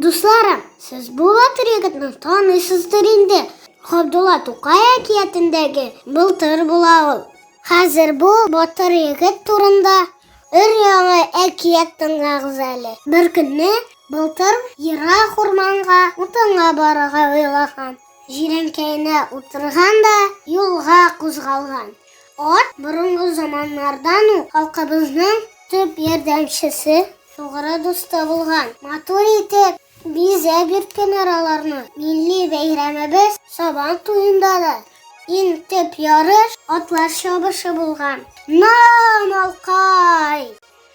Дусларым, сез бу ватырыгызны танысыздыр инде. Габдулла Тукай әкиятендәге былтыр була ул. Хәзер бу батыр егет турында өр-яңа әкият тыңлагыз әле. Бер көнне былтыр ерак урманга утынга барырга уйлаган. Җирәнкәенә утырган да юлга кузгалган. Ат борынгы заманнардан ук халкыбызның төп ярдәмчесе, тугры дусты булган. Матур итеп бизәп йөрткән араларны. Милли бәйрәмебез Сабан туенда да иң төп ярыш атлар чабышы булган. На-малкай!